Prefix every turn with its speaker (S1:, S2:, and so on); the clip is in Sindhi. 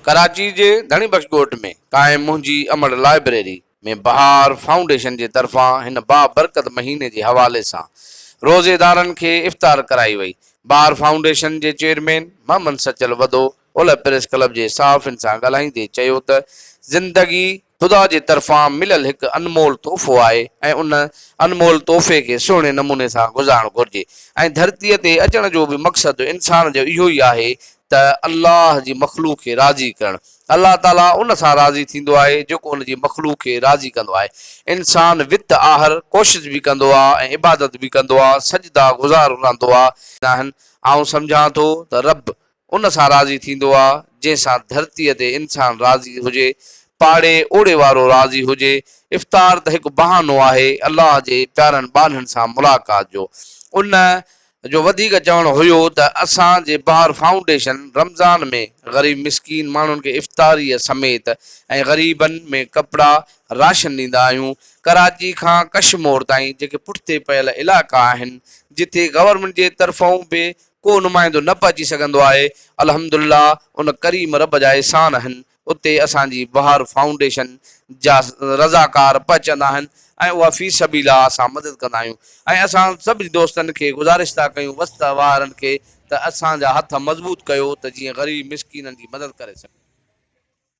S1: ڪراچي جي ڌڻي بخش ڳوٺ ۾ قائم منهنجي امڙ لائبريري ۾ بهار فائونڊيشن جي طرفان هن بابرڪت مهيني جي حوالي سان روزيدارن کي افطار ڪرائي وئي. بهار فائونڊيشن جي چيئرمين محمد سچل وڌو اولهه پريس ڪلب جي صحافين سان ڳالهائيندي چيو ته زندگي خدا جي طرفان مليل هڪ انمول تحفو آهي ۽ ان انمول تحفي کي سهڻي نموني سان گذارڻ گهرجي ۽ ڌرتي تي اچڻ جو به مقصد انسان جو اهو ئي آهي ته الله جي مخلوق کي راضي ڪرڻ الله تعاليٰ ان سان راضي ٿيندو آهي جيڪو ان جي مخلوق کي راضي ڪندو آهي انسان وت آهر ڪوشش به ڪندو آهي ۽ عبادت به ڪندو آهي سجدا گذار رهندو آهي آهن آئون سمجهان ٿو ته رب ان سان راضي ٿيندو آ، جنهن سان ڌرتيء تي انسان راضي هجي، پاڙي اوڙي وارو راضي هجي. افطار ته هڪ بهانو آهي، الله جي پيارن ٻانهن سان ملاقات جو. ان جو وڌيڪ چوڻ هيو ته اسان جي بهار فائونڊيشن رمضان ۾ غريب مسڪين ماڻهن کي افطاريء سميت ۽ غريبن ۾ ڪپڙا، راشن ڏيندا آهيون. ڪراچي کان ڪشمور تائين جيڪي پٺتي پيل علائقا آهن، جتي گورنمينٽ جي طرفئون به ڪو نمائندو نه پهچي سگهندو آهي، الحمدالله ان ڪريم رب جا احسان آهن اتي اسان جي بهار فائونڊيشن جا رضاڪار پهچندا آهن ۽ اها في سبيل آ اسان مدد ڪندا آهيون ۽ اسان سڀني دوستن کي گذارش ٿا ڪيون وسط وارن کي ته اسان جا هٿ مضبوط ڪيو ته جيئن غريب مسڪينن جي مدد ڪري سگهون.